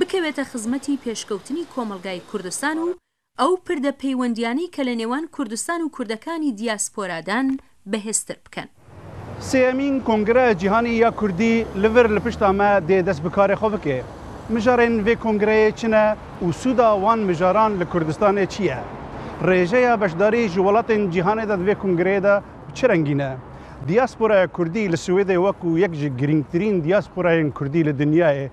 bikewête xizmetî pêşkewtinî Komelgayê Kurdistan û ew pirde peywendîyanî ke li nêwan Kurdistan û Kurdekanî dîaspora dan bihêztir bikin. Sêyemîn Kongreya Cîhanî ya Kurdî li vir li pişta me dê dest bi karê xwe bike. Mijarên vê kongreyê çi ne û sûda wan mijaran li Kurdistanê çi ye? Rêjeya beşdarî ji welatên cîhanê de di vê kongreyê de bi çi rengî ne? Dîasporaya Kurdî li Swêdê wek û yek ji girîngtirîn dîasporayên Kurdî li dinyayê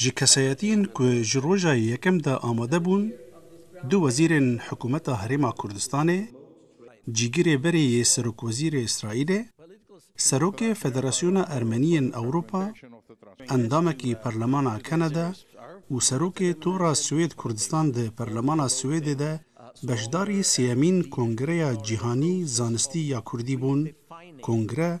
Ji kesayetiyên ku ji roja yekem de amade bûn, du wezîrên hikûmeta Herêma Kurdistanê, cîgirê berê yê serokwezîrê Îsraîlê, serokê Federasyona Ermeniyên Ewropa, endamekî Perlemana Kanada û serokê Tora Swêd Kurdistan di Perlemana Swêdê de beşdarî sêyemîn Kongreya Cîhanî Zanistî ya Kurdî bûn, kongre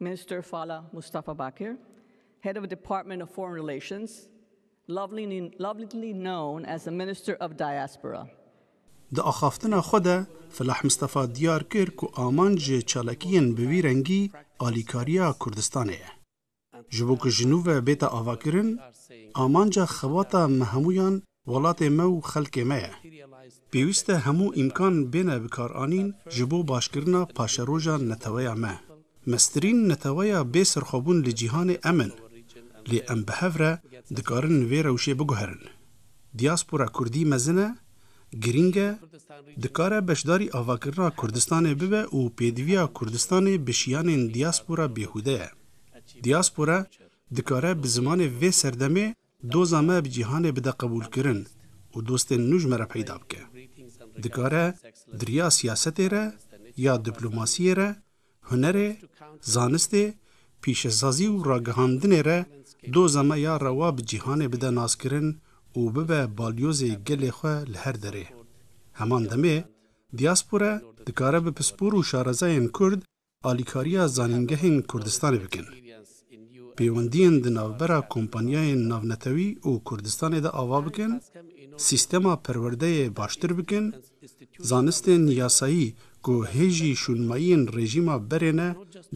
Minister Fala Mustafa Bakir, Head of Department of Foreign Relations, lovingly known as the Minister of Diaspora. Di axaftina xwe de Felah Mustafa diyar kir ku amanc ji çalakiyên bi vî rengî alîkariya Kurdistanê ye. Ji bo ku ji nû ve bêta avakirin, amanca xebata me hemûyan Welatê me û xelkê me ye. Pêwîst e hemû îmkan bêne bikaranîn ji bo başkirina paşeroja neteweya me. Meztirîn neteweya bê serxwebûn li cîhanê em in. Lê em bi hev re dikarin vê rewşê biguherin. Dîaspora kurdî mezin e, girîng e, dikare beşdarî avakirina Kurdistanê bibe û pêdiviya Kurdistanê bi şiyanên dîaspora bêhûde ye. Dîaspora dikare bi zimanê vê serdemê, Doza me bi cîhanê bide qebûlkirin û dostên nû ji me re peyda bike. Dikare di riya siyasetê re ya diplomasiyê re, hunerê, zanistê, pîşesazî û ragihandinê re doza me ya rewa bi cîhanê bide naskirin û bibe balyozê gelê xwe li her derê. Heman demê, diaspora dikare bi pispor û şarezayên Kurd alîkariya zanîngehên Kurdistanê bikin, pêwendiyên di navbera kompanyayên navnetewî û Kurdistanê de ava bikin, sîstema perwerdeyê baştir bikin, zanistên yasayî ku hê jî şûnmayiyên rejîma berê ne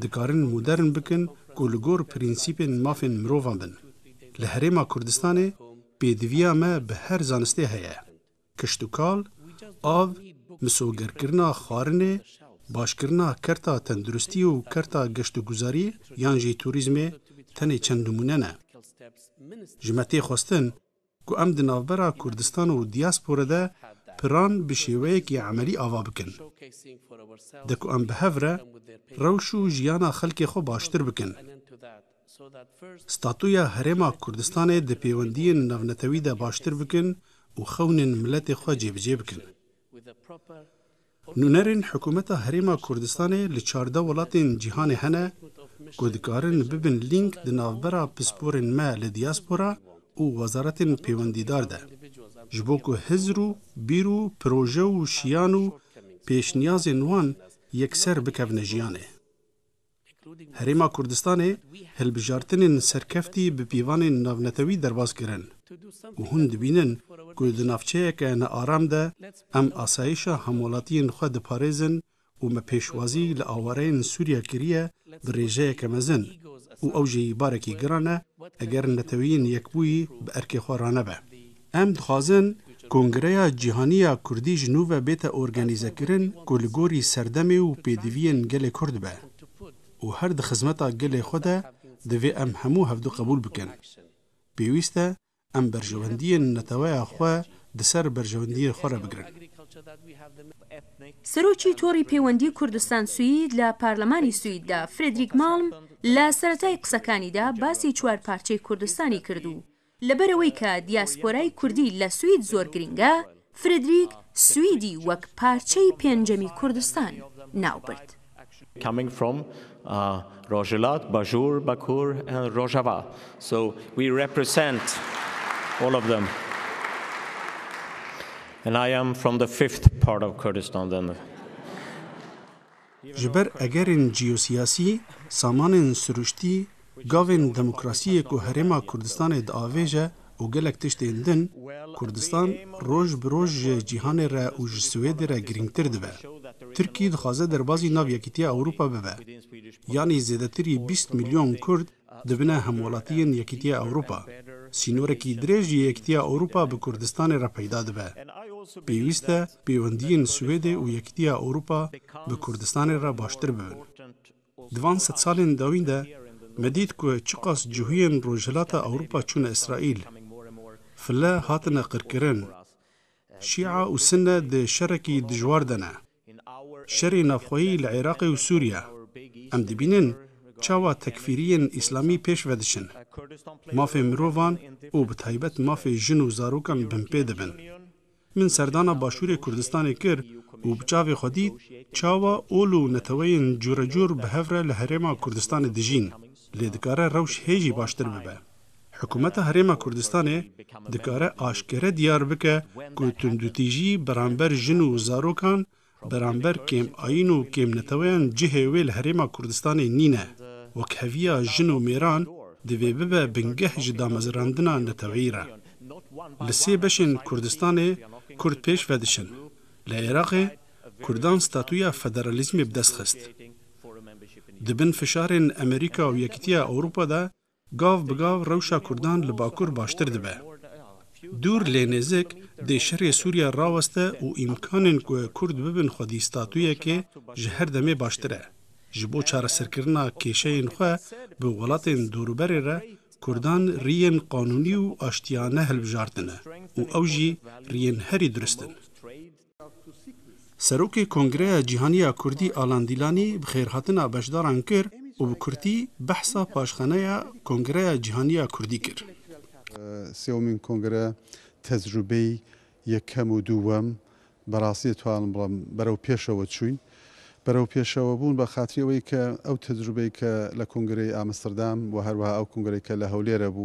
dikarin modern bikin ku li gor prensîpên mafên mirovan bin. Li Herêma Kurdistanê pêdiviya me bi her zanistê heye. Kiştûkal, av, misogerkirina xwarinê, başkirina kerta tenduristî û kerta geştûguzarî yan jî turîzmê tenê çend nimûne ne. Ji me tê xwestin ku em di navbera Kurdistan û dîaspore de piran bi şêweyekî emelî ava bikin. De ku em bi hev re rewş û jiyana xelkê xwe baştir bikin. Statuya Herêma Kurdistanê di pêwendiyên navnetewî de baştir bikin û xewnên miletê xwe cêbicê bikin. Nûnerên Hikûmeta Herêma Kurdistanê li çardeh welatên cîhanê hene ku dikarin bibin lînk di navbera pisporên me li diaspora û wezaretên pêwendîdar de ji bo ku hizr û bîr û proje û şiyan û pêşniyazên wan yekser bikevine jiyanê. Herêma Kurdistanê hilbijartinên serkeftî bi pîvanên navnetewî derbas kirin û hûn dibînin ku di navçeyeke nearam de em asayîşa hemwelatiyên xwe diparêzin û me pêşwazî li awareyên Sûriya kiriye bi rêjeyeke mezin û ew jî barekî giran e eger neteweyên yekbûyî bi erkê xwe ranebe. Em dixwazin Kongreya Cîhanî ya Kurdî ji nû ve bête organîzekirin ku li gorî serdemê û pêdiviyên gelê Kurd be û her di xizmeta gelê xwe de divê em hemû hevdu qebûl bikin. Pêwîst e em berjewendiyên neteweya xwe di ser berjewendiyên xwe re bigirin. Serokî Torî Pêwendî Kurdistan-Swîd li Parlemanê Swîd de Fredrik Malm li seretayê qisekanî de basî çwarparçeyê Kurdistanê kir û Li ber ewê ke diasporayê kurdî le Swîd zor girîng e, Frederick Swîdî wek parçeyî pêncemî Kurdistan nav bird. coming from Rojhilat, Bajûr, Bakur and Rojava so we represent all of them and I am from the fifth part of Kurdistan then. Ji ber egerên cîyosîyasî, samanên sirûştî, gavên demokrasîyê ku Herêma Kurdistanê diavêje û gelek tiştên din, Kurdistan roj bi roj ji cîhanê re û ji Swêdê re girîngtir dibe. Tirkî dixwaze derbazî nav Yekîtîya Ewropa bibe. Yanî zêdetirî bîst milyon Kurd dibine hemwelatîyên Yekîtîya Ewropa. Sînorekî dirêj ji Yekîtîya Ewropa bi Kurdistanê re peyda dibe. Pêwîste Pêwendiyên Swêdê û Yekîtiya Ewropa bi Kurdistanê re baştir bibin. Di van sed salên dawîn de me dît ku çiqas cihûyên Rojhilata Ewropa çûne Îsraîl, file hatine qirkirin, Şîa û Sinne di şerekî dijwar de ne. Şerê navxweyî li Iraqê û Sûriye, em dibînin çawa tekfîriyên Îslamî pêş vediçin. Mafê mirovan û bi taybet mafê jin û zarokan binpê dibin. Min serdana Başûrê Kurdistanê kir û bi çavê xwe dît çawa ol û neteweyên cûrecûr bi hev re li Herêma Kurdistanê dijîn, lê dikare rewş hê jî baştir bibe. Hikûmeta Herêma Kurdistanê dikare aşkere diyar bike ku tundûtîjî beramber jin û zarokan Beramber kêm ayîn û kêm neteweyan cihê wê li Herêma Kurdistanê nîne. Wekheviya jin û mêran divê bibe bingeh ji damezirandina neteweyî re. Li sê beşên Kurdistanê Kurd pêş vedişin. Li Êraqê Kurdan statuya federalîzmê bi dest xist. Di bin fişarên Amerîka û Yekîtiya Ewropa de Gav bi gav rewşa Kurdan li Bakur baştir dibe. Dûr lê nêzik dê şerê Sûriye raweste û îmkanên ku Kurd bibin xwedî statuyekê ji her demê baştir e. Ji bo çareserkirina kêşeyên xwe bi welatên dorûberê re Kurdan riyên qanûnî û aştiyane hilbijartine û ew jî riyên herî durist in. Serokê Kongreya Cîhanî ya Kurdî Alan Dîlanî bi xêrhatina beşdaran kir û bi kurtî behsa paşxaneya Kongreya Cîhanî ya Kurdî kir. Sêwemîn kongre tecrûbeyî yekem û dûwem bi rastî dê twanin bilim berewpêşewe çûn. Berewpêşewebûn bi xatirî wê ke ew tecrûbeyê ke li kongreyê Amsterdam û herweha ew kongreyê ke li Hewlêre bû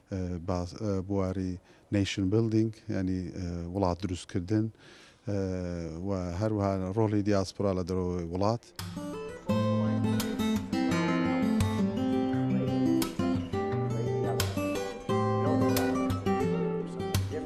Bûarî nation building yanî wilat dirûstkirdin û her wiha rolê diaspora li derewê wilat.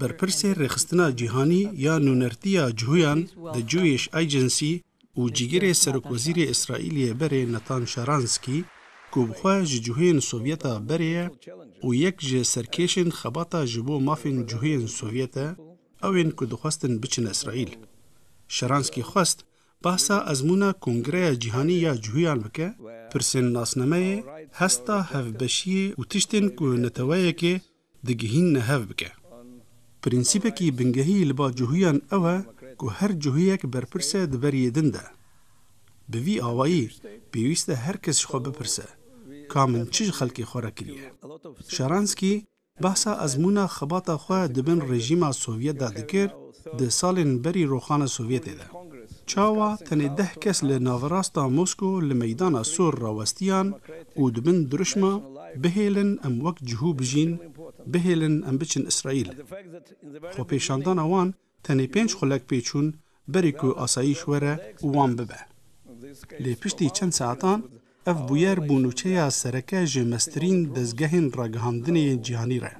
Berpirsê Rêxistina Cîhanî ya Nûnertiya Cuhûyan, The Jewish Agency, û cîgirê serokwezîrê Îsraîlê yê berê Natan Sharansky, ku bi xwe ji cuhên Sovyeta berê ye û yek ji serkêşên xebata ji bo mafên cuhên Sovyet e, ew ên ku dixwestin biçin Îsraîl. Sharansky xwest behsa ezmûna Kongreya Cîhanî ya Cuhûyan bike, pirsên nasnameyê, hesta hevbeşiyê û tiştên ku neteweyekê digihîn ne hev bike. Prensîpekî bingehî li ba cuhûyan ew e ku her cuhûyek berpirse e di beriyê din de. Bi vî awayî pêwîst e her kes ji xwe bipirse, Ka min çi ji xelkê xwe re kiriye? Şaranskî behsa ezmûna xebata xwe di bin rejîma Sovyet de dikir, Di salên berî roxana Sovyetê de, çawa tenê deh kes li naverasta Mosko li meydana sor rawestiyan û di bin dirûşma Bihêlin em wek cihû bijîn, bihêlin em biçin Îsraîl. Xwepêşandana wan tenê pênc xulek pê çûn berî ku asayîş were û wan bibe. Lê piştî çend saetan, Ev bûyer bû nûçeya sereke ji meztirîn dezgehên ragihandinê yên cîhanî re.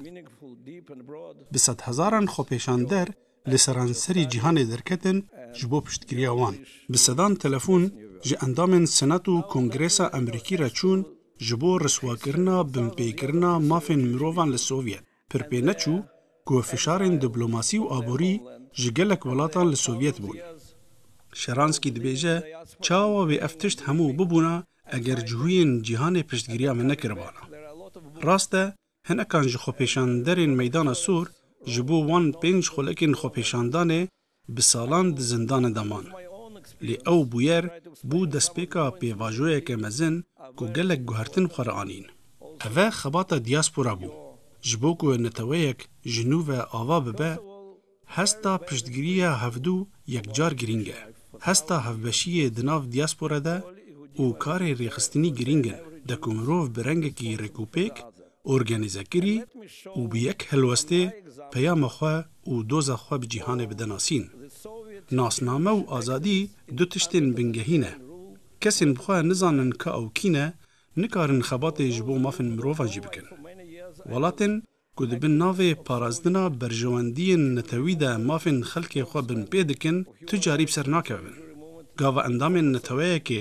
Bi sedhezaran xwepêşander li seranserî cîhanê derketin ji bo piştgiriya wan. Bi sedan telefon ji endamên Senat û Kongresa Amerîkî re çûn ji bo riswakirina binpêkirina mafên mirovan li Sovyet. Pir pê neçû ku fişarên diplomasî û aborî ji gelek welatan li Sovyet bûn. Sharansky dibêje, Çawa wê ev tişt hemû bibûna eger cihûyên cîhanê piştgiriya me nekiribana? Rast e, hinekan ji xwepêşanderên Meydana Sor ji bo wan pênc xulekên xwepêşandanê Bi salan di zindanê de man. Lê ew bûyer bû destpêka pêvajoyeke mezin ku gelek guhertin bi xwe re anîn. Ev e xebata dîaspora bû. Ji bo ku neteweyek ji nû ve ava bibe, hesta piştgiriya hevdu yekcar girîng e. Hesta hevbeşiyê di nav dîaspora de û karê rêxistinî girîng in de ku mirov bi rengekî rêkûpêk Organîze kirî û bi yek helwestê peyama xwe û doza xwe bi cîhanê bide nasîn. Nasname û azadî du tiştên bingehî ne. Kesên bi xwe nizanin ka ew kî ne, nikarin xebatê ji bo mafên mirovan jî bikin. Welatên ku di bin navê parastina berjewendiyên netewî de mafên xelkê xwe binpê dikin, tu carî bi ser nakevin. Gava endamên neteweyekê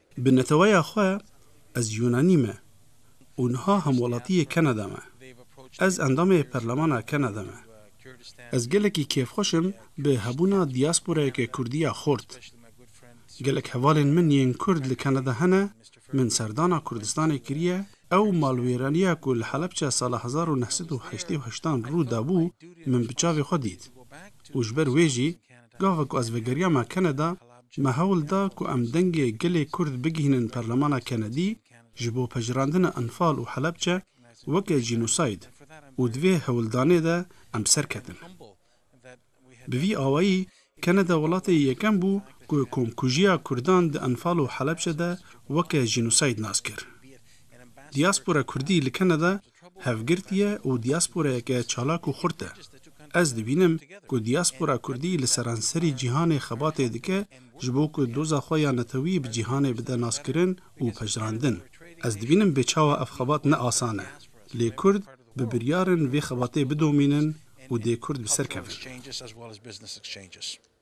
Bi neteweya xwe ez Yûnanî me û niha hemwelatiyê Kanada me. Ez endamê Perlemana Kanada me. Ez gelekî kêfxweş im bi hebûna dîasporayeke Kurdî ya xort. Gelek hevalên min yên Kurd li Kanada hene, min serdana Kurdistanê kiriye, ew malwêraniya ku li Helepçe sala hezar û neh sed û heştê û heşt an rû dabû min bi çavê xwe dît û ji ber wê jî gava ku ez vegeriyame Kanada, Me hewl da ku em dengê gelê Kurd bigihînin Perlemana Kenedî ji bo pejirandina Enfal û Helebçe weke jînosayd û di vê hewldanê de em serketin. Bi vî awayî Keneda welatê yekem bû ku komkujiya Kurdan di Enfal û Helebçe de weke jînosayd nas kir. Diaspora Kurdî li Keneda hevgirtiye û diasporayeke çalak û xurt e. Ez dibînim ku diaspora kurdî li seranserî cîhanê xebatê dike ji bo ku doza xwe ya netewî bi cîhanê bide naskirin û pejirandin. Ez dibînim bê çawa ev xebat ne asan e. Lê kurd bi biryar in vê xebatê bidomînin û dê kurd bi ser kevin.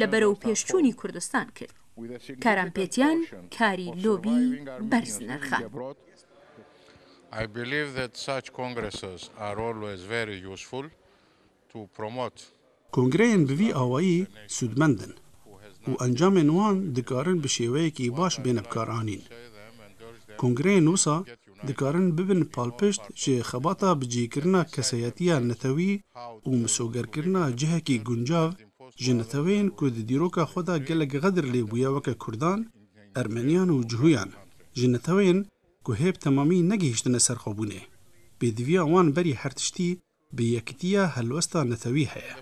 li berovpêşçûnî Kurdistan kir. Kerempêtiyan karî lobî berz nirxe. Kongreyên bi vî awayî sûdmend in û encamên wan dikarin bi şêweyekî baş bêne bikaranîn. Kongreyên wisa dikarin bibin palpişt ji xebata bicihkirina kesayetiya netewî û misogerkirina cihekî guncav ji neteweyên ku di dîroka xwe de gelek xedir lê bûye weke Kurdan, Ermeniyan û Cuhuyan, ji neteweyên ku hê bi temamî negihîştine serxwebûnê. Pêdiviya wan berî her tiştî, Bi yekitiya helwesta netewî heye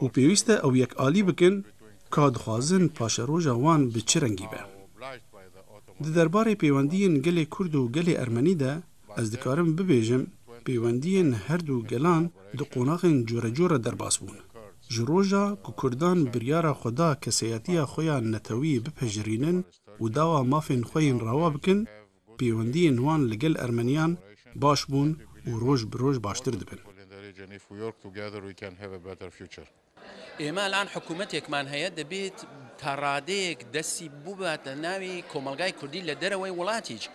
û pêwîst e ew yek alî bikin ka dixwazin paşeroja wan bi çi rengî be. Di derbarê pêwendiyên gelê Kurd û gelê Ermenî de ez dikarim bibêjim pêwendiyên her du gelan di qonaxên corecor re derbas bûn. Ji roja ku Kurdan biryara xwe da keseyatiya xwe ya netewî bipejirînin û dawa mafên xwe yên rawa bikin, pêwendiyên wan li gel Ermeniyan baş bûn û roj bi roj baştir dibin. Ême elan hikûmetek man heye debêt ta radeyek destî bûbate navê komelgayê kurdî li derewey welatî jî.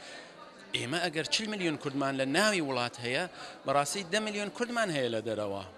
Ême eger çil milyon kurd man li navê welat heye, bi rastî de milyon kurd man heye li derewa.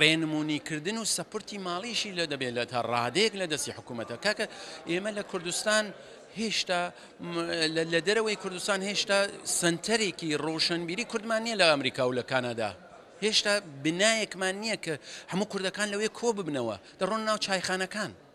Rênimûnîkirdin û sepurtî malî jî li dibê li ta radeyek li destê hikûmete. Kake ême li Kurdistan hêşta li derewê Kurdistan hêşta senterekî roşenbîrî Kurd man niye li Amerîka û li Kanada. Hêşta binayek man niye ki hemû Kurdekan li wê ko bibine we. Deron nav çayxanekan.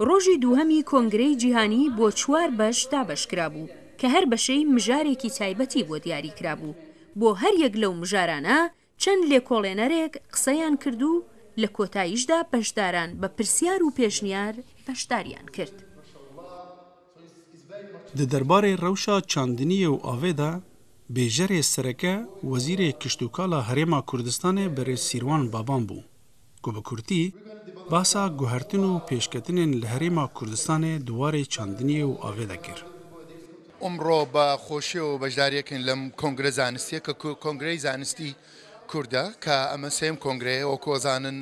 Rojî duhemî Kongreyê Cîhanî bo çwar beş dabeş kirabû ke her beşey mijarekî taybetî bo diyarî kirabû. Bo her yek lew mijarane çend lêkolênerek qiseyan kird û li kotayî ji de beşdaran be pirsiyar û pêşniyar beşdariyan kird. Di derbarê rewşa çandiniyê û avê de bêjerê sereke Wezîrê Kiştûkala Herêma Kurdistanê berêz Sîrwan Baban bû ku bi kurtî behsa guhertin û pêşketinên li Herêma Kurdistanê di warê çandiniyê û avê de kir. Îmro bi xweşî û beşdariyekî lem kongre zanistiyê ke ku Kongreyê Zanistî Kurd e ke em sêyem kongre ye wek ku zanin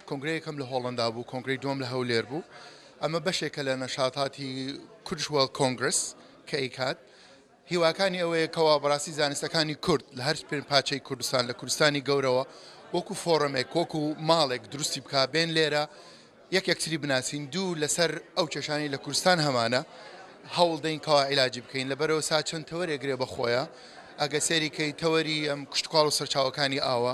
kongreyê yekem li Hollanda bû, kongreyê dûyem li Hewlêr bû Eme beşeke le neşatatî Kurdish World Congress, KCAD, hîwakanî ew ye kewa birastî zanistekanî Kurd li her pênc paçeyî Kurdistan li Kurdistanî gewre we wekû foremek, wekû malek dirustî bika, bên lêre yek yektirî binasîn, dû li ser ew keşanî li Kurdistan hemane hewl deyn kewa îlacî bikeyn. Li berê wisa çend tewerê girê be xwe ye. Ege seyrî key tewerî em kuştukaal û serçawekanî awe.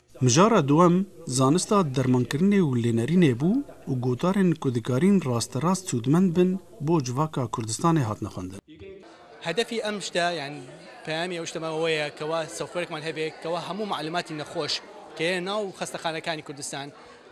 Mijara dûem zanista dermankirinê û lênerînê bû û gotarên ku dikarîn rasterast sûdmend bin bo civaka Kurdistanê hatine xwendin. Hedefî em ji te yan peyamê ew ji te me we ye ke wa softwarekman hebe ke wa hemû malûmatî nexweş ke yên nav xestexanekanê Kurdistan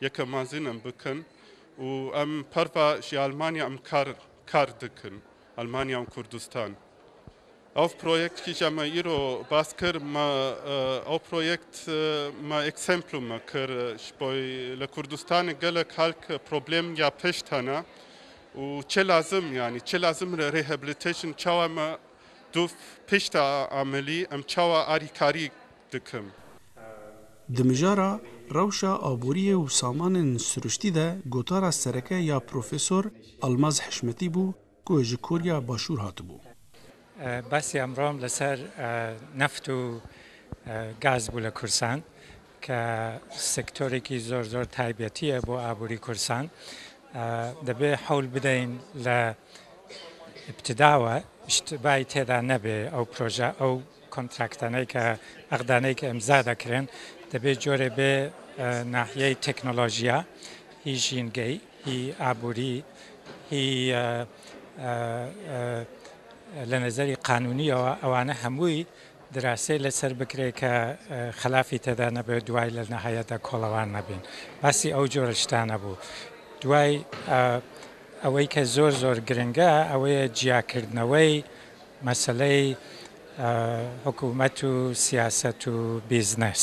Yeke mazin em bikin û em perva ji Almanya em kar kar dikin Almanya û Kurdistan. Ew proyektî ji me îro bas kir me ew proyekt me eksemplû me kir ji bo li Kurdistanê gelek halk problem ya pişt hene û çi lazim yanî çi lazim rehabilitation çawa me Tu pişta amelî em çawa arîkarî dikim. Di mijara rewşa aboriyê û samanên siruştî de gotara sereke ya Profesor Almaz Hişmetî bû ku ji Korya Başûr hatibû. Basî emran li ser neft û gaz bû li Kursan. ke sektorekî zor zor taybetî ye bo aborî Kursan dibê hewl bideyîn li îbtida we îştîbahî têda nebê ew proje ew kontraktanê ke exdanê ke îmza de kirin dibê corê bê nahiyeyê teknolojîya hî jîngeyî hî aborî hî li nezerî qanûnî yewa ewanê hemûyî Dirasê li ser bikirê ke xilafî tede nebe duway li nihayet de kolewan nebîn. Basî ew cor tiştan nebû. Duway ewey ke zor zor giring e ewê ye ciyakirdnewey meseley hikûmet û siyaset û bîznes.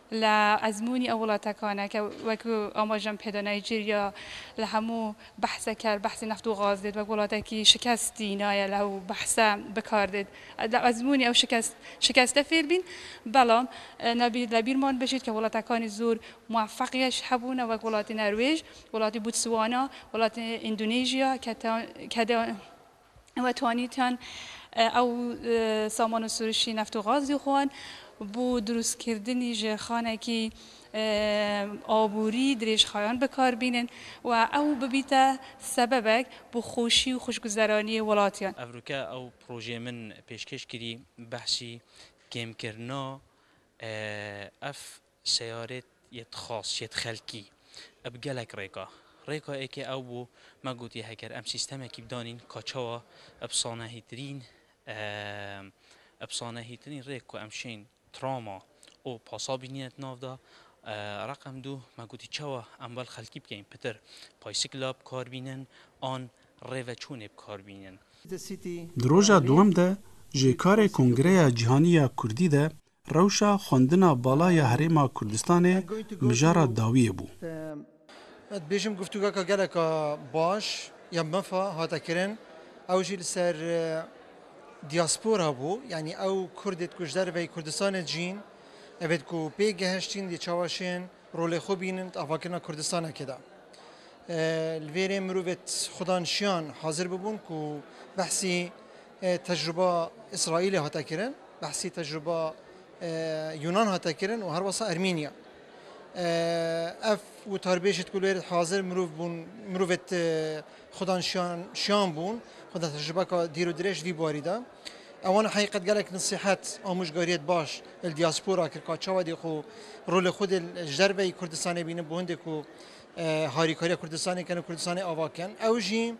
Li ezmûnî ew welatekan e ke wek amajan pê de Nîjerya li hemû behse ker behsê neft û gaz dêt wek welatekî şikest dî naye li ew behse bikar dêt li ezmûnî ew şikest şikeste fêr bîn belam nebî li bîrman bijît ke welatekanî zor muefeqîyeş hebûne wek welatê Nerwêj welatê Bûtswana welatê Îndonêjya ke ke de و twanîtiyan ew saman û sûrişî neft û gaz jî xwan bo dirûstkirdinî ji xanekî aborî dirêjxayan bikar bînin û ew bibîte sebebek bo xweşî û xweşguzeraniyê welatiyan. Ev rûke ew projeyê min pêşkêş kirî behsî kêmkirina ev Seyarê yê tixas, yê tixelkî e bi gelek rêka. Rêka êkê ew bû, me gotiye heger em sîstemekî bidanîn ka çawa e bi sanehîtirîn e e bi sanehîtirîn rêk ku em şên trama û pasa bînîne di nav de. Reqem du, me gotî çawa em wel xelkî bikeyn pitir paysikla bi kar bînin an rêveçûnê bi kar bînin. Di roja duwem de jê karê Kongreya Cîhanî ya Kurdî de Rewşa xwendina bala ya Herêma Kurdistanê mijara dawiyê bû. Ez dibêjim guftûgeka geleka baş ya mefa hate kirin. Ew jî li ser diaspora bû. Yanî ew Kurdê ku ji derveyî Kurdistanê dicîn. Evê ku pê gehiştîn dê çawa şên. Rolê xwe bînin di avakirina Kurdistanekê de. Li vê rê mirovên xwedanşiyan hazir bibûn ku behsî tecruba Îsraîlê hate kirin, behsî tecruba Yunan hate kirin û her wasa Ermînya. Ev witarbêjê ku li wê rê hazir mirov bûn, mirovê xwedanşiyan bûn, xweda tecrubeka dîr û dirêj vî barî de. Ewan heqîqet gelek nesîhet amûjgariyet baş li dîaspora kir ka çawa dê xwe rolê xwe dê ji derveyî Kurdistanê bînin bo hindê ku harîkariya Kurdistanê bikin û Kurdistanê ava bikin. Ew jî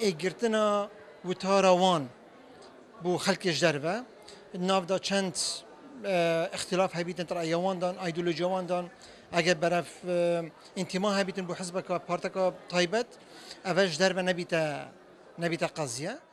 ê girtina witara wan bo xelkê ji derve di nav de çend îxtilaf hebîtin di raya wan de îdeolojiya wan de eger berev întima hebîtin bo hizbeke parteke taybet ev ji derve nebîte nebîte qeziye.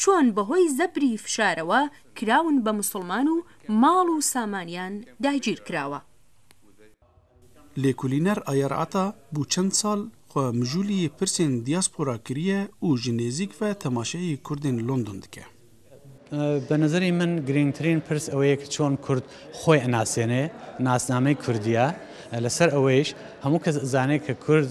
Çûn bi hoy zebrî fişarewa kirawin be misilman û mal û samaniyan dagîr kirawa. Lêkolîner Ayer Ata bû çend sal xwe mijûlî yê pirsên diaspora kiriye û ji nêzîk ve temaşeyê Kurdên London dike. Bi nezerê min girîngtirîn pirs ew ye ku çûn Kurd xwe inasêne, nasnamey Kurdî ya. Li ser eweyîş hemû kes izane ku Kurd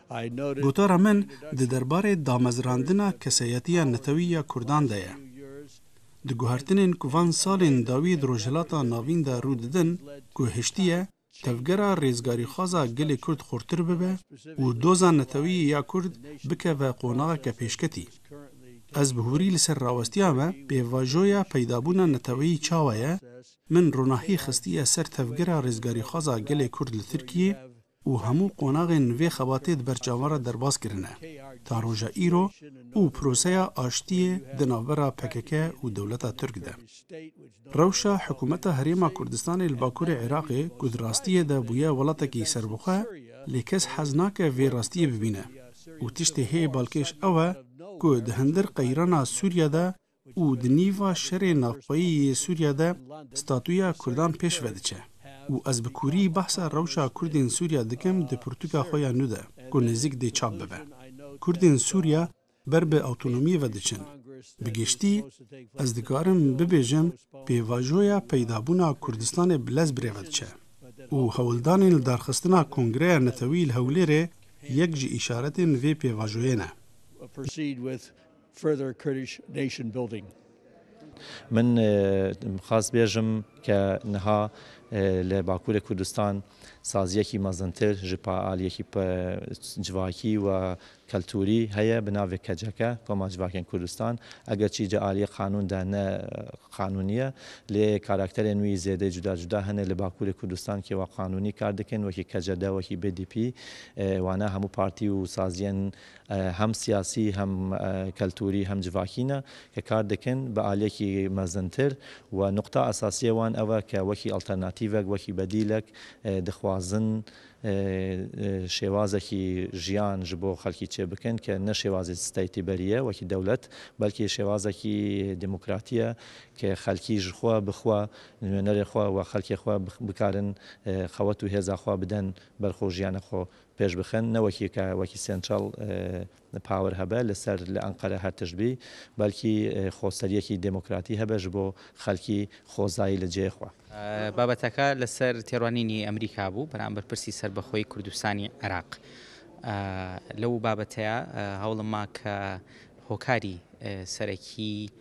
Gotara min di derbarê damezrandina kesayetiya netewî ya Kurdan de ye. Di guhertinên ku van salên dawî di Rojhilata Navîn de rû didin ku hiştiye tevgera rêzgarîxwaza gelê Kurd xurtir bibe û doza netewî ya Kurd bikeve qonaxeke pêşketî. Ez bi hûrî li ser rawestiya me pêvajoya peydabûna neteweyî çawa ye, min ronahî xistiye ser tevgera rêzgarîxwaza gelê Kurd li Tirkiyê, û hemû qonaxên vê xebatê di ber çavan re derbas kirine ta roja îro û proseya aştiyê di navbera pkk û dewleta Tirk de. Rewşa hikûmeta Herêma Kurdistanê li bakurê Iraqê ku di rastiyê de bûye welatekî serbixwe lê kes hez nake vê rastiyê bibîne û tiştê hê balkêş ew e ku di hindir qeyrana Sûriye de û di nîva şerê navxweyî yê Sûriye de statuya Kurdan pêş ve diçe û ez bi kûrî behsa rewşa Kurdên Sûriye dikim di pirtûka xwe ya nû de ku nêzîk dê çap bibe. Kurdên Sûriye ber bi awtonomiyê ve diçin. Bi giştî ez dikarim bibêjim pêvajoya peydabûna Kurdistanê bi lez birêve diçe û hewldanên li darxistina Kongreya Netewî li Hewlêrê yek ji îşaretên vê pêvajoyê ne. Further Kurdish nation building. Min xwest bêjim ke niha li Bakurê Kurdistan saziyekî mezintir ji aliyekî civakî û kulturî heye bi navê KCK, Koma Civakên Kurdistan, eger çî di aliyê qanûn de ne qanûnî ye, lê karakterên wî zêdê cuda cuda hene li Bakurê Kurdistan kê wa qanûnî kar dikin wekî KCD, wekî BDP, wana hemû partî û saziyên hem siyasî, hem keltûrî, hem civakî ne ke kar dikin bi aliyekî mezintir û nuqta esasî ya wan ew e ke wekî alternatîvek, wekî bedîlek dixwazin şêwazekî jiyan ji bo xelkî çêbikin ke ne şêwazê state berî ye wekî dewlet belkî şêwazekî demokratî ye ke xelkî ji xwe bi xwe, nûnerê xwe û xelkê xwe bikarin xewet û hêza xwe bidin ber xwe û jiyana xwe. pêş bixin ne wekî ka wekî central power hebe li ser li Enqere her tişt bî belkî xweseriyekî demokratî hebe ji bo xelkî xwezayî li cihê xwe. Babeteke li ser têrwanînî Amerîka bû beramber pirsî serbixweyî Kurdistanî Iraq. Li û babeteya hewlim ma ke hokarî serekî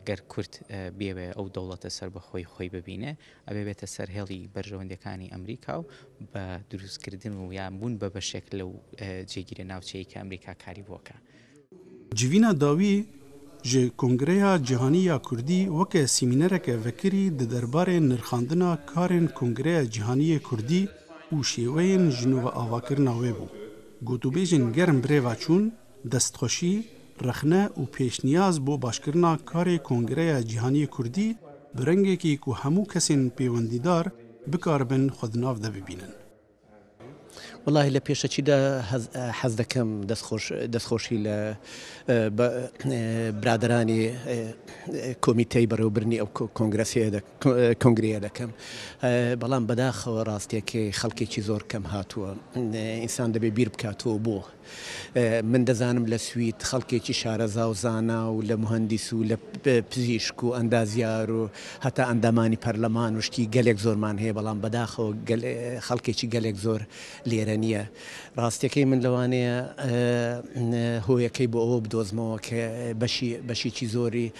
Eger Kurd bieve ew dewleta serbixweyî xweyî bibîne, ev ê bête ser hêlî berjewendekanî Amerîka û bi dirûskirîdin û yan bûn be beşek li cêgîrê navçeyî ke Amerîka karî bo ke. Civîna dawî ji Kongreya Cîhanî ya Kurdî weke sîmînereke vekirî di derbarê nirxandina karên Kongreya Cîhanî yê Kurdî û şêweyên ji nûveavakirina wê bû. Gotûbêjên germ bi rê ve çûn Destxweşî, rexne û pêşniyaz bo başkirina karê Kongreya Cîhaniyê Kurdî bi rengekî ku hemû kesên pêwendîdar bikaribin xwe di nav de bibînin. Welahi li pêşekî de hez dikim destxweşî li biraderanê Komîteyê Berewbirinî ew Kongresê de Kongreye dikim. Belam bedaxewe rastiyekê xelkekî zor kem hatuwe. Însan dibê bîr bike tu bo. Min dizanim li Swîd xelkekî şareza û zana û li muhendîs û li pizîşk û endazyar û heta endamanî perleman û ştî gelek zorman heye belam bedaxewe xelkekî gelek zor lêre niye. Rastiyekê min li Wanê ye. Hoyekê bo ewe bidozmewe ke beşî beşîkî zorî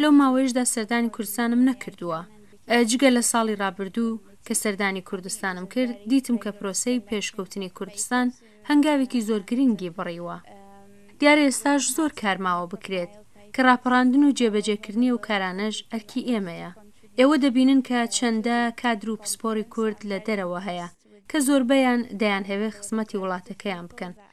Loma wê ji de serdanî Kurdistanim nekirduwa. Cige li salî rabirdû ke serdanî Kurdistanim kir, dîtim ke proseyê pêşkewtinê Kurdistan hengavekî zor girîngî birîwa. Diyar e êsta ji zor kar mawe bikirêt. Ke rapirandin û cêbecêkirinê ew karane ji erkî ême ye. Êwe dibînin ke çende kadr û pisporî Kurd li derewe heye ke zorbeyan deyan hevê xizmetî welatekeyan bikin.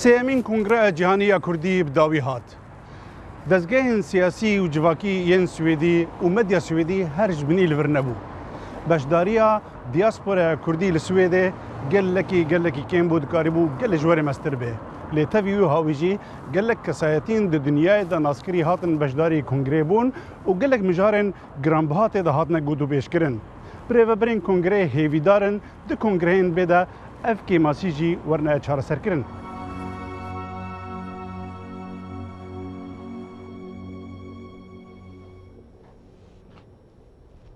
Sêyemîn Kongreya Cîhanî ya Kurdî bi dawî hat. Dezgehên siyasî û civakî yên Swêdî û medya Swêdî her ji binî li vir nebû. Beşdariya diasporaya Kurdî li Swêdê gelekî gelekî kêm bû dikarîbû gelê ji werê meztir bê. Lê tevî wiha wî jî gelek kesayetîn di dinyayê de naskirî hatin beşdarî kongreyê bûn û gelek mijarên Giranbiha tê de hatine gotûbêjkirin. Bi rêvebirên kongreyê hêvîdar in di kongreyên bê de ev kêmasî jî werine çareserkirin.